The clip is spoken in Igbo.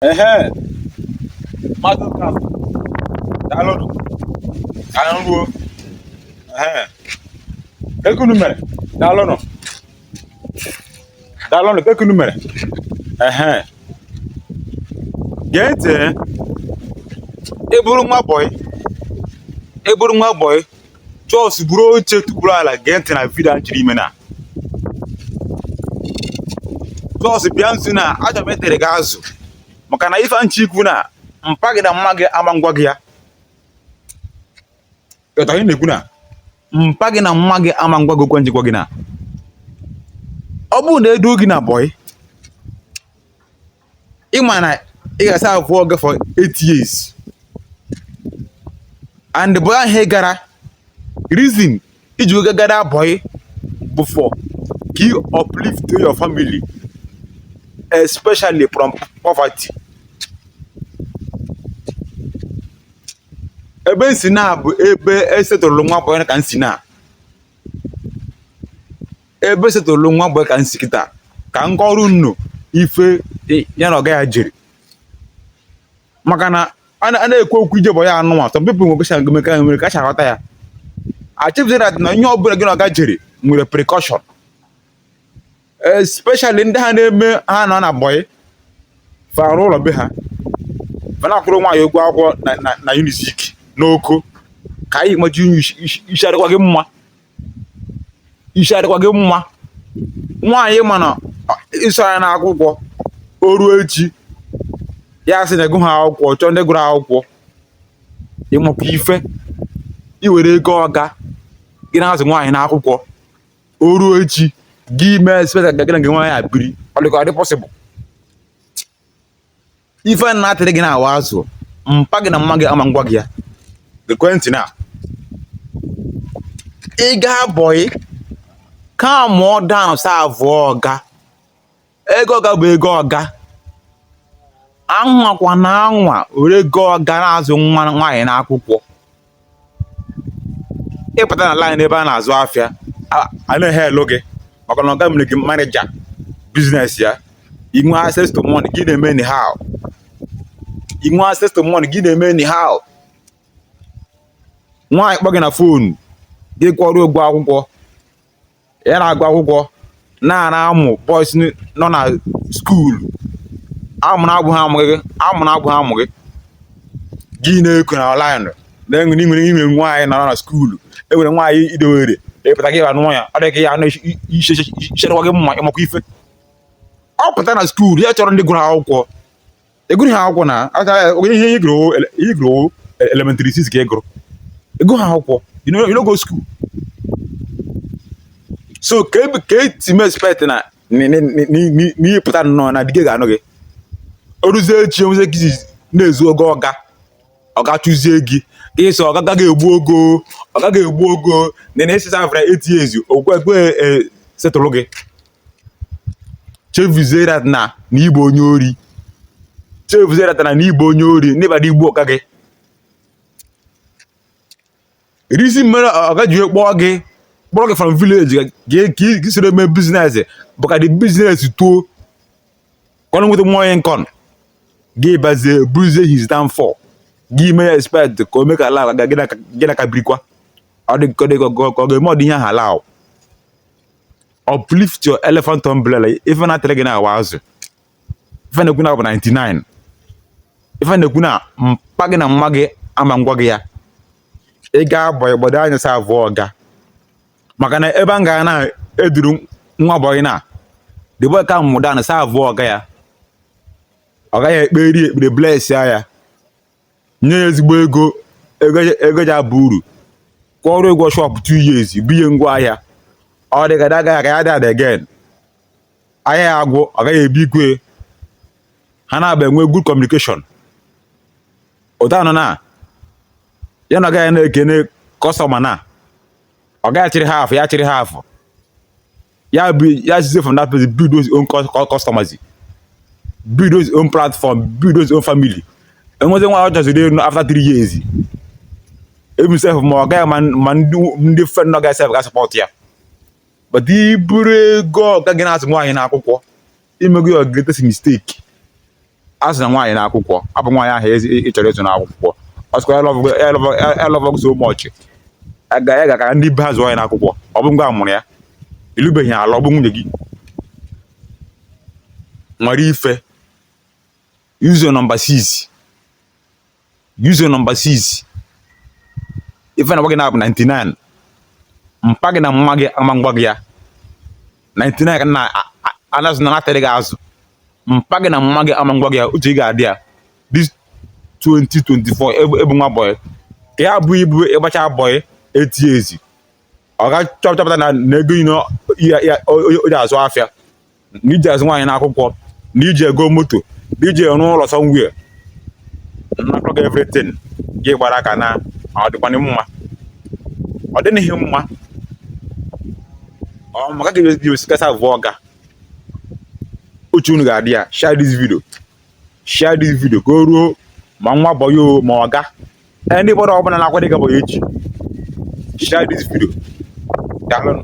ehe mmadụ ka daalụnụ ka anyị ruo ehe kee ka unu mere daalụnụ daalụnụ kee ka unu mere ehe gee ntị ị bụrụ nwa bọyị ị bụrụ nwa bọyị jos buru oche tukwuru ala gee ntị na vidio a m chọrọ ime na jos bịa nso na achọ m itere gị azụ maka na ife m chọ ikwu na mpa gị na mma gị ama ngwa gị ya ị ghọtara ihe m na-ekwu na mpa gị na mma gị ama ngwa gị okwu a m ji gwa gị na ọ bụrụ na e doo gị na bọyị ị ma na ị ga-asaavụ ọga for eight years and bọyị ahụ ị gara reason i ji oge gara bọyị bụ for ka you uplift your family especially from poverty ebe m si na bụ ebe e setụlụ nwa bọyị ka m si na ebe e setụlụ nwa bọyị ka m si kịta ka m kọrọ unu ife ya na ọga ya jiri maka na a na-ekwu okwu ije bọyị a nụnwa some people nwere kwesịrị gome ka nwere kacha aghọta ya achọpụta na na ihe ọbụla gị na ọga jiri were precaution especially ndị a na-eme ha nọ na bọyị fara ụlọ be ha ma na-akwụrụ nwaanyị ụgwọ akwụkwọ na unizik n'oko ka anyị maji unyi isi adịkwa gị mma isi adịkwa gị mma nwaanyị mana ị zụọ ya n'akwụkwọ o ruo echi ya sị na ị gụha akwụkwọ chọọ ndị gụrụ akwụkwọ ị makwa ife i were ego ọga gị na-azụ nwaanyị n'akwụkwọ o ruo echi gị mee expect na gị na nwaanyị ebiri ọ dịkwa ọ dị pọsịbụl ife a na-atịrị gị na-awa azụ mpa gị na mma gị ama ngwa gị ya gekwa ntị na ị gaa bọyị kaamụọ daụn saavụọ ọga ego ọga bụ ego ọga anwakwana anwa were ego ọga na-azụ nwa nwaanyị n'akwụkwọ ị pụta na line ebe a na-azụ afịa a na-eheelụ gị maka na ọga mere gị manija biznes ya i nwee access to money gị na-eme anyhow i nwee access to money gị na-eme anyhow nwaanyị kpọọ gị na fonu gị kwụọrọ ụgwọ akwụkwọ ya na-agụ akwụkwọ na-ana amụ bọis nọ na skuulu amụ na-abụghị amụ gị amụ na-abụghị amụ gị gị na-eko na ọnlaịnụ na i nwere nwere i nwe nwaanyị nọrọ na skuulu i nwere nwaanyị i dowere ị pụta gị anụ ya ọ dịghị ya anụ isi adịkwa gị mma ị makwa ife ọ pụta na skuulu ya chọrọ ndị gụrụ akwụkwọ ị gụrụha akwụkwọ na ihe ị gụrụ elementary six ka ị gụrụ ị gụrụha akwụkwọ you no you no go school so ka eti m expect na n'ihe pụta nnọọ na dike ga-anụ gị oruzie echi enwezi gị na-ezu ogo ọga ọga chụzie gị ka ị sị ọga ga-egbu ogo ọga ga-egbu ogo na na ị sị serve for eight years okwe ekwe e settle gị chefuzie that na na ịbụ onye ori chefuzie that na na ịbụ onye ori na ị bịara igbu ọga gị reason mere ọga ji wee kpọọ gị kpọrọ gị from village ka ka- ka ị soro mee business bụ ka the business too ka o nweta more income gị bazie buruzie his downfall gị mee ya expect ka o mee ka ala ga gị na- gị na ka birikwa ọ dị ka ọ dị ka ọ ga- ka ọ ga-eme ụdị ihe ahụ ala ahụ uplift your elephant umbrella ife na-atịrị gị na-awa azụ ife na-ekwu na bụ 99 ife na-ekwu na mpa gị na mma gị aman gwa gị ya ị gbaa bọyị gbado anya serve ọga maka na ebe a ga na-eduru nwa bọyị na the boy calm down serve ọga ya ọga ya ekperie ekpere bless ya nye ya ezigbo ego ego ja-aba uru kwụọrọ ụgwọ shop two years bunye ngwa ahịa ọ dị ka na ọga ya aka ya dad again ahịa ya agwụ ọga ya ebunyekwa ha naabọ enwe good communication ụta nọ na ya na ọga ya na-ekene customer na ọga ya achịrị half ya achịrị half ya bụ ya sizie from that place build his own customers build his own platform build his own family e nwezie nwa ọ chọziri ịlụ after three years even sef ma ọga ya ma ndị friend ọga ya sef ga support ya but i buru ego ọga gị na-azụ nwaanyị na akwụkwọ i mego your greatest mistake azụna nwaanyị na akwụkwọ ọ bụ nwaanyị ahụ ị chọrọ ịzụ na akwụkwọ ọ sịkwa ọ love gị so much ya gaa ka ndị be ha zụọ ya na akwụkwọ ọ bụ ngị wa mụrụ ya ị lụbeghị ya alụ ọ bụ nwunye gị nwere ife use number 6 use number 6 ife m na-agwa gị na-abụ 99 mpa gị na mma gị aman gwa gị ya 99 ka na anazụ na natịrị gị azụ mpa gị na mma gị aman gwa gị ya uche gị ga-adị ya this 2024 ị bụ nwa bọyị ka ya bụ ibu ị gbacha bọyị eight years ọga chọpụta na ego ino onye azụ afịa na iji azụ nwaanyị n'akwụkwọ na iji ego moto na iji arụ ụlọ somewhere nnakọ gị everything gị gbara aka na ọ dịkwanị mma ọ dịghị mma ọ maka gị jiwesikasa vụọ ọga uche unu ga-adị ya share this video share this video ka o ruo ma nwa boy ma ọga anybody ọbụla na-akwado ịga boy echi share this video daalụnụ